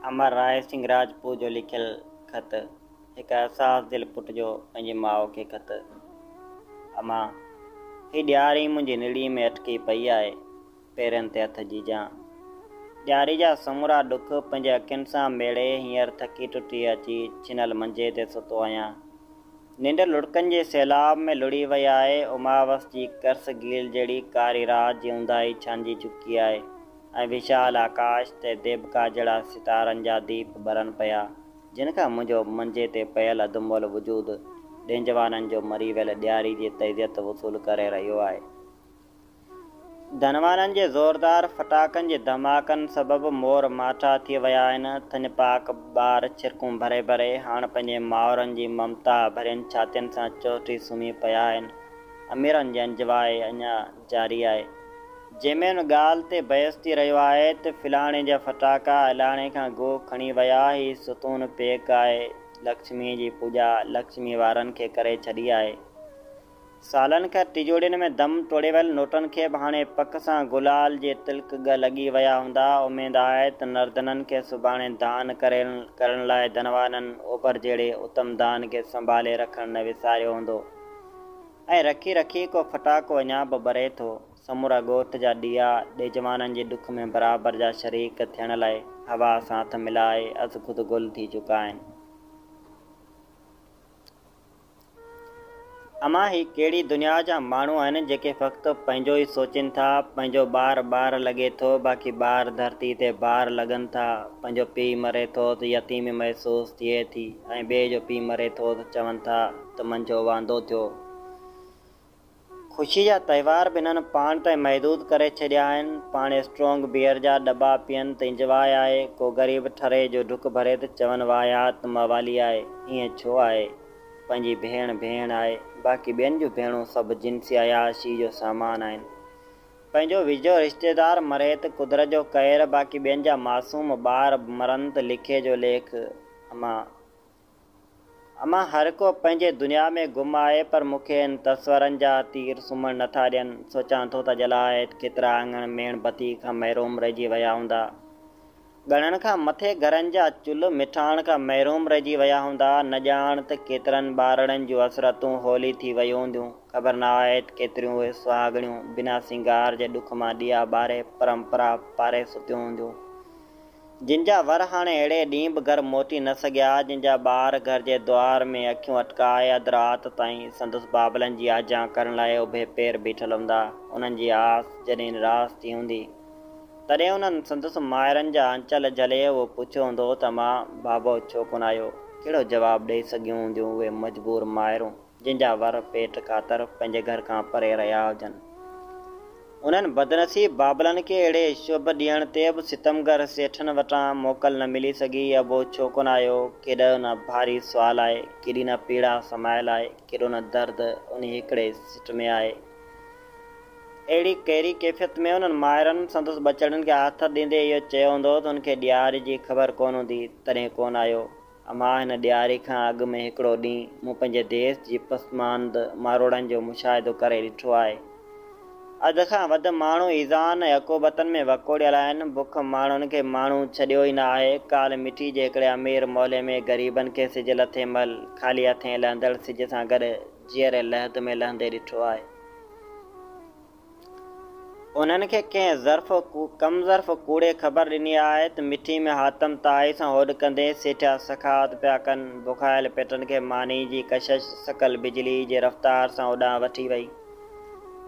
امر راء سنگهه راجپوت جو لکيل خط، هڪ حساس دل پٽ جو پنهنجي ماء کي خط، اما! هي ڏياري منهنجي نڙي ۾ اٽڪي پئي آهي، پيرن تي هٿ جيجان. ڏياري جا سمورا ڏک پنهنجي اکين سان ميڙي هينئر ٿڪي ٽٽي اچي ڇنل منجي تي ستو آهيان. ننڊ لڙڪن جي سيلاب ۾ لڙهي وئي آهي، اماوس جي ڪرس گيل جهڙي ڪاري رات جي اونداهي ڇانئجي چڪي آهي ۽ وشال آڪاش تي ديبڪا جهڙا ستارن جا ديپ ٻرن پيا، جن کان منهنجو منجي تي پيل اڌ مئل وجود ڏينجوانن جو مري ويل ڏياري جي تعزيت وصول ڪري رهيو آهي. ڌنوارن جي زوردار ڦٽاڪن جي ڌماڪن سبب مور ماٺا ٿي ويا آهن. ٿڃ پاڪ ٻار ڇرڪون ڀري ڀري هاڻ پنهنجين مائرن جي ممتا ڀرين ڇاتين سان چهٽي سمهي پيا آهن. اميرن جي انجواء اڃا جاري آهي. جنهن ۾ ان ڳالهه تي بحث ٿي رهيو آهي ته فلاڻي جا ڦٽاڪا الاڻي کان اڳو کڻي ويا، هي ستون پيڪ آهي، لڪشميء جي پوڄا لڪشمي وارن کي ڪري ڇڏي آهي. سالن کان ٽجوڙين ۾ دم ٽوڙي ويل نوٽن کي به هاڻي پڪ سان گلال جي تلڪ ڳه لڳي ويا هوندا. اميد آهي ته نردنن کي سڀاڻي دان ڪريل ڪرڻ لاء ڌنوانن اوڀر جهڙي اتم دان کي سنڀالي رکڻ نه وساريو هوندو ۽ رکي رکي ڪو ڦٽاڪو اڃا به ٻري ٿو. سمورا ڳوٺ جا ڏيئا ڏيجوانن جي ڏک ۾ برابر جا شريڪ ٿيڻ لاء هوا سان هٿ ملائي ازخود گل ٿي چڪا آهن. امان هي ڪهڙي دنيا جا ماڻهو آهن جيڪي فقط پنهنجو ئي سوچين ٿا پنهنجو ٻار ٻار لڳي ٿو باقي ٻار ڌرتي تي بار لڳن ٿا پنهنجو پيء مري ٿو ته يتيمي محسوس ٿئي ٿي ۽ ٻئي جو پيء مري ٿو ته چون ٿا ته منجهو واندو ٿيو. خوشي جا تهوار به هنن پاڻ تائين محدود ڪري ڇڏيا آهن. پاڻ اسٽرونگ بيئر جا دٻا پيئن ته انجواء آهي. ڪو غريب ٺري جو ڍڪ ڀري ته چون واهيات موالي آهي. ائين ڇو آهي؟ پنهنجي ڀيڻ ڀيڻ آهي. باقي ٻين جون ڀيڻون سڀ جنسي عياشي جو سامان آهن. پنهنجو ويجهو رشتيدار مري ته قدرت جو قهر باقي ٻين جا معصوم ٻار مرن ته ليکي جو ليک. امان. امان، هرڪو پنهنجي دنيا ۾ گم آهي، پر مون کي هن تصورن جا تير سمهڻ نه ٿا ڏين. سوچان ٿو ته جلاهيت ڪيترا اڱڻ ميڻ بتيء کان محروم رهجي ويا هوندا. ڳڻڻ کان مٿي گهرن جا چلهه مٺاڻ کان محروم رهجي ويا هوندا. نه ڄاڻ ته ڪيترن ٻارڙن جون حسرتون هولي ٿي ويون هونديون. خبر ناهيت ڪيتريون اهي سهاڳڻيون بنا سينگار جي ڏک مان ڏيئا ٻاري پرمپرا پاري ستيون هونديون. جن جا ور هاڻي اهڙي ڏينهن به گهر موتي نه سگهيا، جن جا ٻار گهر جي دوار ۾ اکيون اٽڪائي اڌ رات تائين سندس بابلن جي آجيان ڪرڻ لاء اڀي پير بيٺل هوندا، انهن جي آس جڏهن نراس ٿي هوندي، تڏهن انهن سندس مائرن جا آنچل جهلي اهو پڇيو هوندو ته امان بابو ڇو ڪونه آيو؟ ڪهڙو جواب ڏئي سگهيون هونديون اهي مجبور مائرون؟ جن جا ور پيٽ خاطر پنهنجي گهر کان پري رهيا هجن. انهن بدنصيب بابلن کي اهڙي شڀ ڏينهن تي به ستمگر سيٺن وٽان موڪل نه ملي سگهي. ابو ڇو ڪونه آيو؟ ڪيڏو نه ڀاري سوال آهي، ڪيڏي نه پيڙا سمايل آهي، ڪيڏو نه درد انهي هڪڙي سٽ ۾ آهي. اهڙي ڪيري ڪيفيت ۾ انهن مائرن سندس ٻچڙن کي آٿت ڏيندي اهو چيو هوندو ته ان کي ڏياري جي خبر ڪونه هوندي، تڏهن ڪونه آيو. امان هن ڏياري کان اڳ ۾ هڪڙو ڏينهن مون پنهنجي ديس جي پسماند ماروئڙن جو مشاهدو ڪري ڏٺو آهي. اڌ کان وڌ ماڻهو ايذائن ۽ عقوبتن ۾ وڪوڙيل آهن. بک ماڻهن کي ماڻهو ڇڏيو ئي نه آهي. ڪالهه مٺي جي هڪڙي امير محلي ۾ غريبن کي سج لٿي مهل خالي هٿين لهندڙ سج سان گڏ جيئري لحد ۾ لهندي ڏٺو آهي. انهن کي ڪنهن ظرف، ڪم ظرف، ڪوڙي خبر ڏني آهي ته مٺي ۾ حاتم طائي سان هوڏ ڪندي سيٺيا سخاوت پيا ڪن. بکايل پيٽن کي ماني جي ڪشش سڪل بجلي جي رفتار سان اوڏانهن وٺي وئي.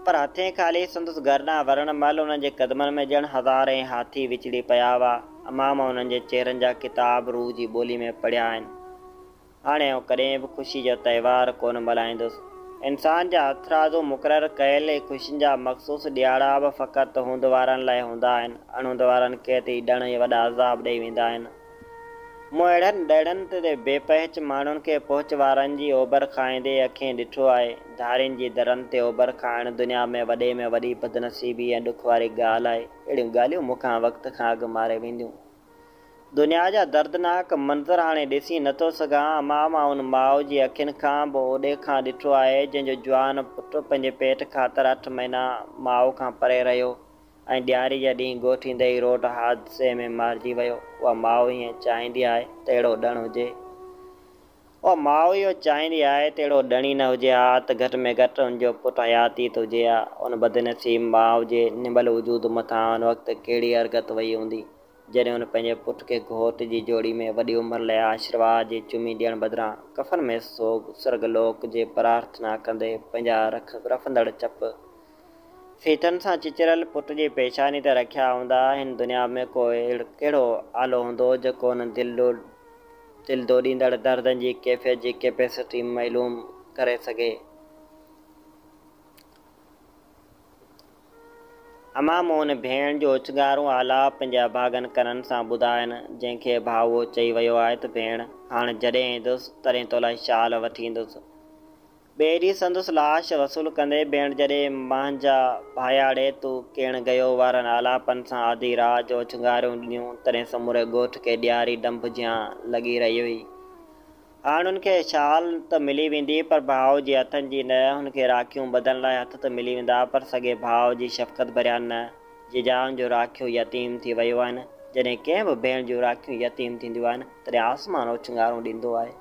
پر هٿين خالي سندس گهر ڏانهن ورڻ مهل انهن جي قدمن ۾ ڄڻ هزارين هاٿي وچڙي پيا هئا. امام انهن جي چهرن جا ڪتاب روح جي ٻولي ۾ پڙهيا آهن. هاڻي آئون ڪڏهن به خوشي جا تهوار ڪونه ملهائيندس. انسان جا هٿرادو مقرر ڪيل اهي خوشين جا مخصوص ڏيهاڙا به فقط هوند وارن لاء هوندا آهن. اڻهوند وارن کي ته اهي ڏڻ ئي وڏا عذاب ڏيئي ويندا آهن. مون اهڙن ڏهڙن تي بي پهچ ماڻهن کي پهچ وارن جي اوڀر کائيندي اکين ڏٺو آهي. ڌارين جي درن تي اوڀر کائڻ دنيا ۾ وڏي ۾ وڏي بدنصيبي ۽ ڏک واري ڳالهه آهي. اهڙيون ڳالهيون مون کان وقت کان اڳ ماري وينديون. دنيا جا دردناڪ منظر هاڻي ڏسي نه ٿو سگهان. امان مان ان ماء جي اکين کان به اوڏي کان ڏٺو آهي، جنهن جو جوان پٽ پنهنجي پيٽ خاطر اٺ مهينا ماء کان پري رهيو ۽ ڏياري جا ڏينهن ڳوٺيندي ئي روڊ حادثي ۾ مارجي ويو. اها ماء هيئن چاهيندي آهي ته اهڙو ڏڻ هجي. اها ماء اهو چاهيندي آهي ته اهڙو ڏڻي نه هجي ها ته گهٽ ۾ گهٽ هن جو پٽ حياتيت هجي ها. ان بدنصيب ماء جي نڀل وجود مٿان ان وقت ڪهڙي ارغت وئي هوندي، جڏهن هن پنهنجي پٽ کي گهوٽ جي جوڙي ۾ وڏي عمر لئه آشرواد جي چمي ڏيڻ بدران ڪفن ۾ سوڳ سرڳ لوڪ جي پرارٿنا ڪندي پنهنجا رک رڦندڙ چپ سيتن سان چچريل پٽ جي پيشاني تي رکيا هوندا، هن دنيا ۾ ڪو ڪهڙو آلو هوندو، جيڪو انهن دل ڊوڙيندڙ دردن جي ڪيفيت جي ڪيپيسٽي معلوم ڪري سگهي. امان مون ڀيڻ جو اچنگارون آلاپ پنهنجي اڀاڳن ڪنن سان ٻڌائين، جنهن کي ڀائوء چئي ويو آهي ته ڀيڻ، هاڻ جڏهن ايندس، تڏهن تولاء شال وٺي ايندس. ٻيري سندس لاش وصول ڪندي ڀيڻ جڏي مانجا ڀاياڙي تون ڪيڻ ڳيو وارن آلاپن سان آڌي رات جو اڇنگاريون ڏنيون تڏهن سموري ڳوٺ کي ڏياري ڏنڀ جيان لڳي رهي هئي هاڻ هن کي شال ته ملي ويندي پر ڀاء جي هٿن جي نه هن کي راکيون ٻڌڻ لاء هٿ ته ملي ويندا پر سڳي ڀاء جي شفقت ڀريا نه جيجائن جون راکيون يتيم ٿي ويون آهن جڏهن ڪنهن به ڀيڻ جون راکيون يتيم ٿينديون آهن تڏهن آسمان اڇنگارون ڏيندو آهي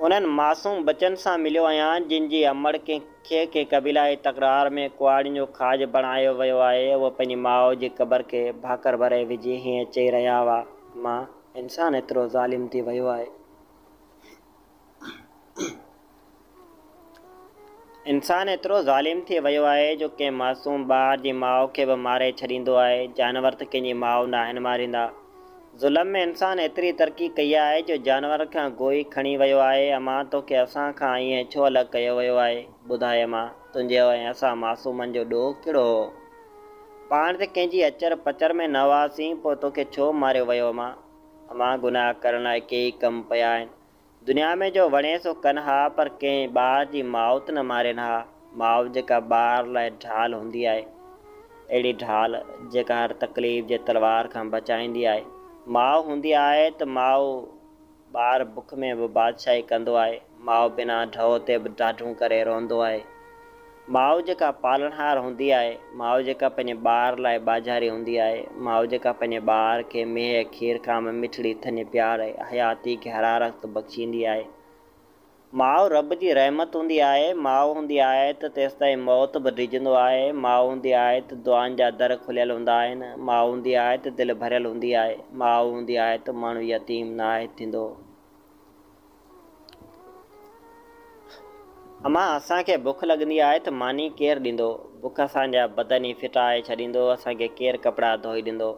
انهن معصوم ٻچن سان مليو آهيان، جن جي امڙ ڪنهن کي ڪنهن قبيلائي تڪرار ۾ ڪهاڙين جو کاڄ بڻايو ويو آهي. هو پنهنجي ماء جي قبر کي ڀاڪر ڀري وجهي هيئن چئي رهيا هئا. ماء! انسان ايترو ظالم ٿي ويو آهي. انسان ايترو ظالم ٿي ويو آهي جو ڪنهن معصوم ٻار جي ماء کي به ماري ڇڏيندو آهي، جانور ته ڪنهن جي ماء ناهن ماريندا. ظلم ۾ انسان ايتري ترقي ڪئي آهي جو جانورن کان گوئي کڻي ويو آهي، اما توکي اسان کان ائين ڇو الڳ ڪيو ويو آهي؟ ٻڌاء اما، تنهنجي ۽ اسان معصومن جو ڏوهه ڪهڙو هو؟ پاڻ ته ڪنهن جي اچر پچر ۾ نه هئاسين، پوء توکي ڇو ماريو ويو اما؟ اما، گناهه ڪرڻ لاء ڪيئي ڪم پيا آهن، دنيا ۾ جو وڻي سو ڪن ها پر ڪنهن ٻار جي ماء ته نه مارين ها. ماء جيڪا ٻار لاء ڍال هوندي آهي. اهڙي ڍال جيڪا هر تڪليف جي تلوار کان بچائيندي آهي. ماء هوندي آهي ته ماء ٻار بک ۾ به بادشاهي ڪندو آهي. ماء بنا ڍؤ تي به ڍاڍون ڪري روئندو آهي. ماء جيڪا پالڻهار هوندي آهي، ماء جيڪا پنهنجي ٻار لاء ٻاجهاري هوندي آهي، ماء جيڪا پنهنجي ٻار کي ميهه، کير، ڪام، مٺڙي، ٿڃ، پيار ۽ حياتي کي حرارت بخشيندي آهي. ماء رب جي رحمت هوندي آهي، ماء هوندي آهي ته تيستائين موت به ڊڄندو آهي، ماء هوندي آهي ته دعائن جا در کليل هوندا آهن، ماء هوندي آهي ته دل ڀريل هوندي آهي، ماء هوندي آهي ته ماڻهو يتيم ناهي ٿيندو. امان اسان کي بک لڳندي آهي ته ماني ڪير ڏيندو؟ بک اسان جا بدن ئي ڦٽائي ڇڏيندو، اسان کي ڪير ڪپڙا ڌوئي ڏيندو؟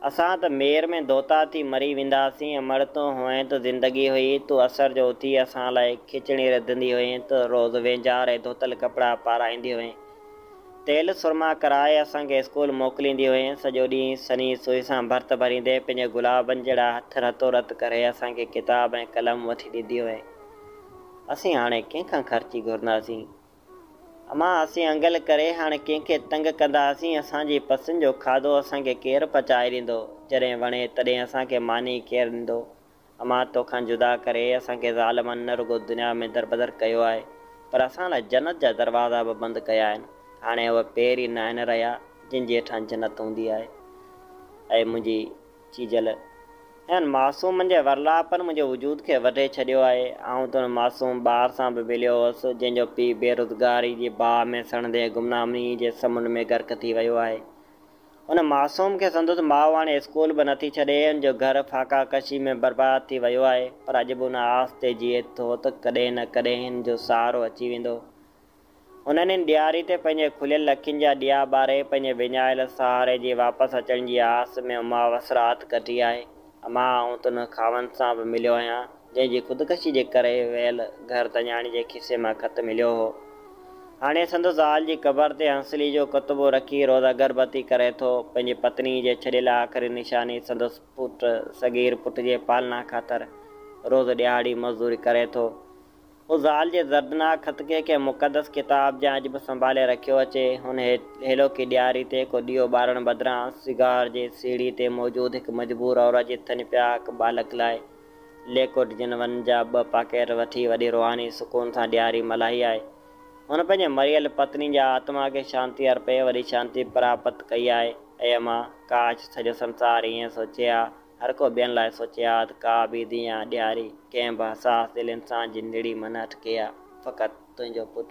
اسان ته مير ۾ ڌوتا ٿي مري وينداسين، امڙ تون هئين ته زندگي هئي، تون اسر جو اٿي اسان لاء کچڻي رڌندي هئين ته روز وينجهار ۽ ڌوتل ڪپڙا پارائيندي هئين، تيل سرما ڪرائي اسان کي اسڪول موڪليندي هئين. سڄو ڏينهن سنئين سوئي سان ڀرت ڀريندي پنهنجي گلابن جهڙا هٿ رتو رت ڪري اسان کي ڪتاب ۽ قلم وٺي ڏيندي هئي. اسين هاڻي ڪنهن کان خرچي گهرنداسين؟ امان اسين انگل ڪري هاڻي ڪنهن کي تنگ ڪنداسين؟ اسان جي پسند جو کاڌو اسان کي ڪير پچائي ڏيندو؟ جڏهن وڻي تڏهن اسان کي ماني ڪير ڏيندو؟ امان توکان جدا ڪري اسان کي ظالمن نه رڳو دنيا ۾ دربدر ڪيو آهي پر اسان لاء جنت جا دروازا به بند ڪيا آهن هاڻي اهي پير ئي ناهن رهيا جن جي هيٺان جنت هوندي آهي اي منهنجي چيجل انهن معصومن جي ورلاپن منهنجي وجود کي وڍي ڇڏيو آهي آئون ته ان معصوم ٻار سان به ويليو هوس جنهن جو پيء بيروزگاري جي باهه ۾ سڙندي گمنامي جي سمنڊ ۾ غرق ٿي ويو آهي ان معصوم کي سندس ماء هاڻي اسڪول به نٿي ڇڏي، هن جو گهر فاقا ڪشي ۾ برباد ٿي ويو آهي، پر اڄ به ان آس تي جيئي ٿو ته ڪڏهن نه ڪڏهن هن جو سهارو اچي ويندو. هن انهن ڏياري تي پنهنجي کليل اکين جا ڏيئا ٻاري پنهنجي وڃايل سهاري جي واپس اچڻ جي آس ۾ اماوس رات ڪٽي آهي. مان آئون ته ان خاوند سان به مليو آهيان، جنهن جي خودڪشي جي ڪري ويل گهر تڃاڻي جي کيسي مان خط مليو هو. هاڻي سندس زال جي قبر تي هنسلي جو ڪتبو رکي روز اگربتي ڪري ٿو. پنهنجي پتني جي ڇڏيل آخري نشاني سندس پٽ صغير پٽ جي پالنا خاطر روز ڏهاڙي مزدوري ڪري ٿو. هو زال جي دردناڪ خط کي ڪنهن مقدس ڪتاب جيان اڄ به سنڀالي رکيو اچي. هن هيلوڪي ڏياري تي ڪو ڏيئو ٻارڻ بدران، سگار جي سيڙهي تي موجود هڪ مجبور عورت جي تن پياڪ ٻالڪ لاء ليڪوڊ جن ون جا ٻه پاڪيٽ وٺي وڏي روحاني سڪون سان ڏياري ملهائي آهي. هن پنهنجي مريل پتني جي آتما کي شانتي ارپي وڏي شانتي پراپت ڪئي آهي. اي امان! ڪاش سڄو سنسار ائين سوچي ها. هر ڪو ٻين لاء سوچي ها ته ڪا به ديان ڏياري ڪنهن به حساس دل انسان جي نڙي مان نه اٽڪي ها. فقط تنهنجو پٽ.